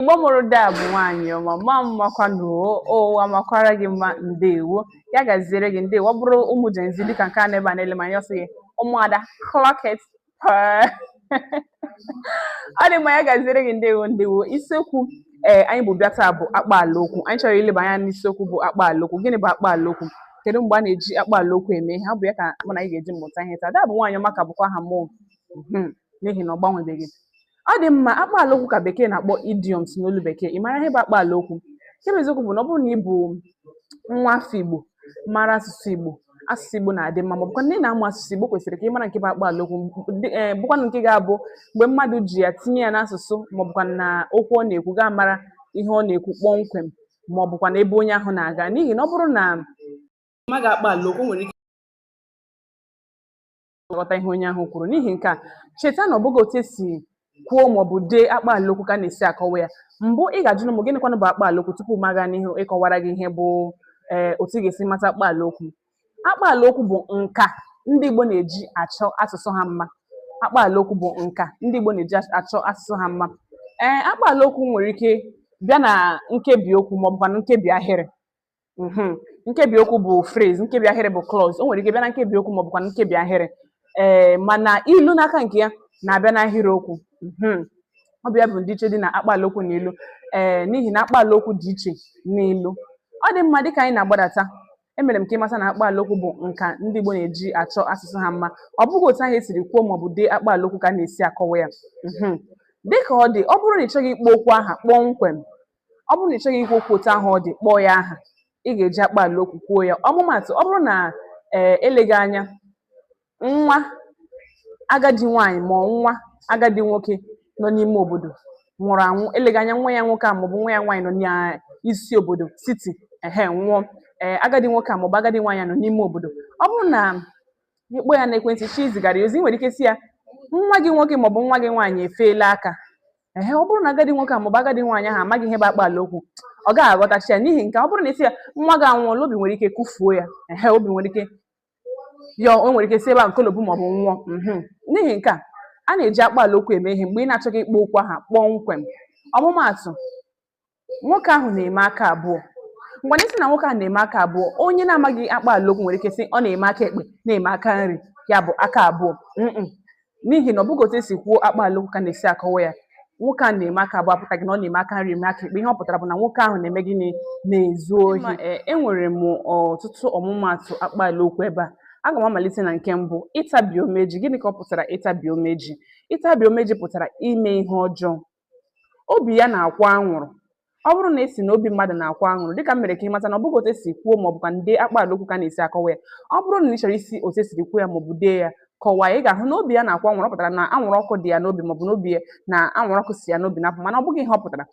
Igbo mụrụ daa bụ nwaanyị ọma mma mmakwanụ ụwa makwara gị mma ndewo ya gaziere gị ndewo ọ bụrụ ụmụ jenzi dịka nke a nọ ebe a na-ele m anya ọ sị gị ụmụada clock it per ọ dị mma ya gaziere gị ndewo ndewo isiokwu ee anyị bu bịa taa bụ akpa ala okwu anyị chọrọ ileba anya n'isiokwu bụ akpa ala okwu gịnị bụ akpa ala okwu kedu mgbe a na-eji akpa ala okwu eme ihe ọ bụ ya ka mụ na anyị ga-eji mụta ihe taa daa bụ nwaanyị ọma ka bụkwa aha mụ n'ihi na ọ gbanwebeghị ọ dị mma akpaala okwu ka bekee na-akpọ idioms n'olu bekee ị mara ihe bụ akpaala okwu nke bụ eziokwu bụ na ọ bụrụ na ị bụ nwa afọ igbo mara asụsụ igbo asụsụ igbo na-adị mma ma ọ bụkwa na ị na-amụ asụsụ igbo kwesịrị ka ị mara nke bụ akpaala okwu ndị- eh, bụkwanụ nke ga-abụ mgbe mmadụ ji ya tinye ya n'asụsụ ma ọ bụkwa na okwu ọ na-ekwu gị amara ihe ọ na-ekwu kpọmkwem ma ọ bụkwa na ebe onye ahụ na-aga n'ihi na ọ bụrụ na ị maghị akpaala okwu o nwere ike ghọta ihe onye ahụ kwuru n'ihi nke a cheta na ọ bụghị otu e si kwuo maọbụ dee akpa alaokwu ka a na-esi akọwa ya mbụ ị ga-ajụ m gịnịkwanụ bụ akpa alaokwu tupu m aga n'ihu ịkọwara gị ihe bụ ee otu ị ga-esi mata akpa alaokwu akpa alaokwu bụ nka ndị Igbo na-eji achọ asụsụ ha mma akpa alaokwu bụ nka ndị Igbo na-eji achọ asụsụ ha mma ee akpa alaokwu nwere ike bịa na nkebi okwu maọbụkwa na nkebi ahịrị mhm. nkebi okwu bụ phrase nkebi ahịrị bụ clause o nwere ike bịa na nkebi okwu maọbụkwa na nkebi ahịrị ee mana ilu n'aka nke ya na-abịa n'ahịrị okwu mhm. ọ bụ ya bụ ndịiche dị na akpaala okwu na ilu ee n'ihi na akpaala okwu dị iche n'ilu ọ dị mma dịka anyị na-agbadata emere m ka ị mata na akpaala okwu bụ nka ndị Igbo na-eji achọ asụsụ ha mma ọ bụghị otu ahụ e siri kwuo maọbụ dee akpaala okwu ka a na-esi akọwa ya mhm. dịka ọ dị ọ bụrụ na ị chọghị ịkpọ okwu aha kpọmkwem ọ bụrụ na ị chọghị ikwu okwu otu ahụ ọ dị kpọọ ya aha ị ga-eji akpa ala okwu kwuo ya ọmụmatụ ọ bụrụ na ee eleghị anya nwa agadi nwaanyị ma nwa agadi nwoke nọ n'ime obodo nwụrụ anwụ eleghị anya nwa ya nwoke a maọbụ nwa ya nwaanyị nọ n'isi obodo city ehe nwụọ ee agadi nwoke a maọbụ agadi nwaanyị a nọ n'ime obodo ọ bụrụ na ị kpọọ ya n'ekwentị chọọ izigara ya ozi i nwere ike sị ya nwa gị nwoke maọbụ nwa gị nwaanyị efeela aka ehe ọ bụrụ na agadi nwoke a maọbụ agadi nwaanyị ahụ amaghị ihe bụ akpa ala okwu ọ gaghị aghọtacha ya n'ihi nke ọ bụrụ na ị sị ya nwa gị anwụọla obi nwere ike kụfuo ya ehe obi nwere ike ya o nwere ike si ebe a nkolobu maọbụ nwụọ mhm. n'ihi nke a a na-eji akpa ala okwu eme ihe mgbe ị na-achọghị ịkpọ okwu aha kpọmkwem ọmụmaatụ nwoke ahụ na-eme aka abụọ mgbe anyị sị na nwoke ahụ na-eme aka abụọ onye na-amaghị akpaala okwu nwere ike sị ọ na-eme aka ekpe na-eme aka nri ya bụ aka abụọ n'ihi na ọ bụghị otu e si kwuo akpaala okwu ka a na-esi akọwa ya nwoke a na-eme aka abụọ apụtaghị na ọ na-eme aka nri eme aka ekpe ihe ọ pụtara bụ na nwoke ahụ na-eme gịnị na-ezu ohi enwere m ọtụtụ ọmụmaatụ akpaala okwu ebe a aga m amalite na nke mbụ ịtabi omeji gịnị ka ọ pụtara ịtabi omeji ịtabi omeji pụtara ime ihe ọjọọ obi ya na-akwụ anwụrụ ọ bụrụ na ị sị na obi mmadụ na-akwụ anwụrụ dịka m mere ka ị mata na ọ bụghị otu esi kwuo ma ọ bụkwanụ dee akpaala okwu ka a na-esi akọwa ya ọ bụrụ na ị chọrọ isi otu esiri kwuo ya ma ọ bụ dee ya kọwaa ya ị ga-ahụ na obi ya na-akwụ anwụrụ ọ pụtara na anwụrụ ọkụ dị ya n'obi maọbụ n'obi ya na anwụrụ ọkụ si ya n'obi na-apụ mana ọ bụghị ihe ọ pụtara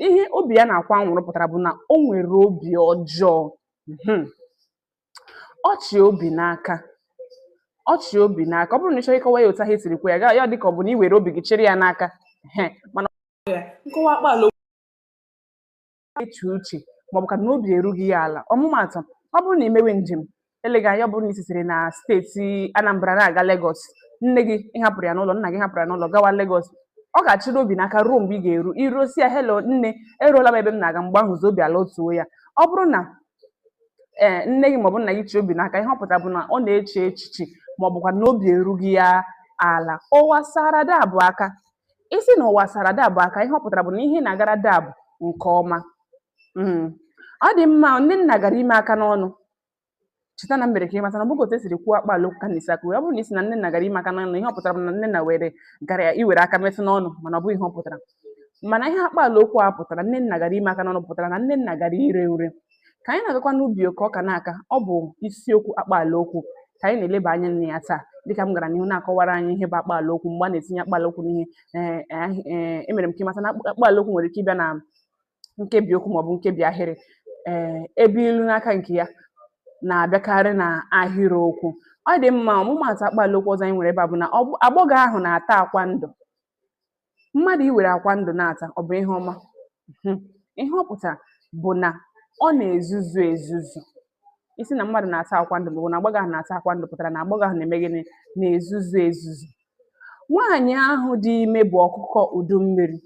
ihe obi ya na-akwụ anwụrụ pụtara bụ na o nwere obi ọjọọ Mhm. ọ chị obi n'aka ọ chị obi n'aka ọ bụrụ na ị chọrọ ịkọwa ya otu ahụ e siri kwuo ya ya adị ka ọ bụ na i were obi gị chịrị ya n'aka ehe, mana nkọwa akpaala eche uche maọbụkwa na obi erughị ya ala ọmụmaatụ ọ bụrụ na ị mewe njem eleghị anya ọ bụrụ na ị sitere na steeti Anambra na-aga Lagos nne gị ị hapụrụ ya n'ụlọ nna gị hapụrụ ya n'ụlọ gawa Lagos ọ ga-achịrị obi n'aka ruo mgbe ị ga-eru i ruo sị ya helo nne eruola m ebe m na-aga mgbe ahụzi obi alatuo ya ọ bụrụ na ee nne gị maọbụ nna gị chị obi n'aka ihe ọ pụtara bụ na ọ na-eche echiche maọbụkwa na obi erughị ya ala ụwa sara dabụ aka ị sị na ụwa sara dabụ aka ihe ọ pụtara bụ na ihe na-agara dabụ nke ọma Mm. ọ dị mma Nnenna gara ime aka n'ọnụ cheta na m mere ka ịmata na ọ bụghị otu esiri kwuo akpaala okwu ka a na-esi akọwa ọ bụrụ na ị sị na Nnenna gara ime aka n'ọnụ ihe ọ pụtara bụ na Nnenna were gara ya iwere aka metụ n'ọnụ mana ọ bụghị ihe ọ pụtara mana ihe akpaala okwu a pụtara Nnenna gara ime aka n'ọnụ pụtara na Nnenna gara iri nri ka anyị na-agakwa n'ubi ka ọka na-aka ọ bụ isiokwu akpaala okwu ka anyị na-eleba anya na ya taa dịka m gara n'ihu na-akọwara anyị ihe bụ akpaala okwu mgbe a na-etinye akpaala okwu n'ihe ee, eh, eh, emere m ka ịmata na akpa- akpaala okwu nwere ike ịbịa na nkebi okwu maọbụ nkebi ahịrị ee ebe ilu n'aka nke ya na-abịakarị na ahịrịokwu ọ dị mma ọmụmaatụ akpaala okwu ọzọ anyị nwere ebe a bụ na ọgbọ- agbọghọ ahụ na-ata akwa ndụ mmadụ iwere akwa ndụ na-ata ọ bụ ihe ọma hmm. ihe ọ pụtara bụ na ọ na-ezuzu ezuzu ị sị na mmadụ na-ata akwa ndụ maọbụ na agbọghọ ahụ na-ata akwa ndụ pụtara na agbọghọ ahụ na-eme gịnị na-ezuzu ezuzu nwaanyị ahụ dị ime bụ ọkụkọ udu mmiri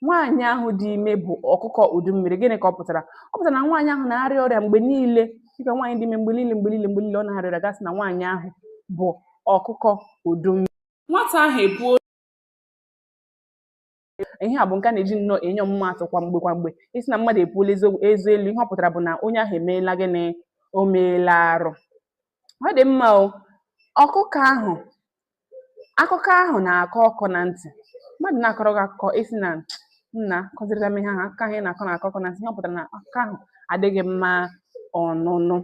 nwaanyị ahụ dị ime bụ ọkụkọ udu mmiri gịnị ka ọ pụtara ọ pụtara na nwaanyị ahụ na-arịa ọrịa mgbe niile dịka nwaanyị dị ime mgbe niile mgbe niile mgbe niile ọ na-arịa ọrịa a ga-asị na nwaanyị ahụ bụ ọkụkọ udu mmiri nwata ahụ epuo ihe a bụ nke a na-eji nnọọ enye ọmụmaatụ kwa mgbe kwa mgbe ị sị na mmadụ epuola eze elu ihe ọ pụtara bụ na onye ahụ emeela gịnị o meela arụ ọ dị mma o ọkụkọ ahụ akụkọ ahụ na-akọ ọkọ na ntị mmadụ na-akọrọ gị akụkọ ị sị na nna kọzirịta m ihe ahụ akụkọ ahụ ị na-akọ na-akọ ọkọ na ntị ihe ọ pụtara na akụkọ ahụ adịghị mma ọnụnụ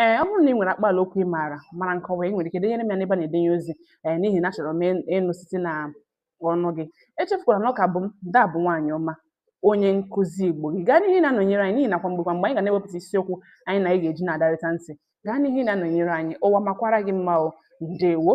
ee ọ bụrụ na i nwere akpaala okwu ị maara mara nkọwa i nwere ike denyere m ya n'ebe a na-edenye ozi ee n'ihi na achọrọ m ịnụ site na ọnụ gị echefukwala na ọ ka bụ m daa bụ nwaanyị ọma onye nkụzi igbo gị gaa n'ihu na-anọnyere anyị n'ihi na kwa mgbe kwa mgbe anyị ga na-ewepụta isiokwu anyị na anyị ga-eji na-adarịta ntị gaa n'ihu na-anọnyere anyị ụwa makwara gị mma o ndewo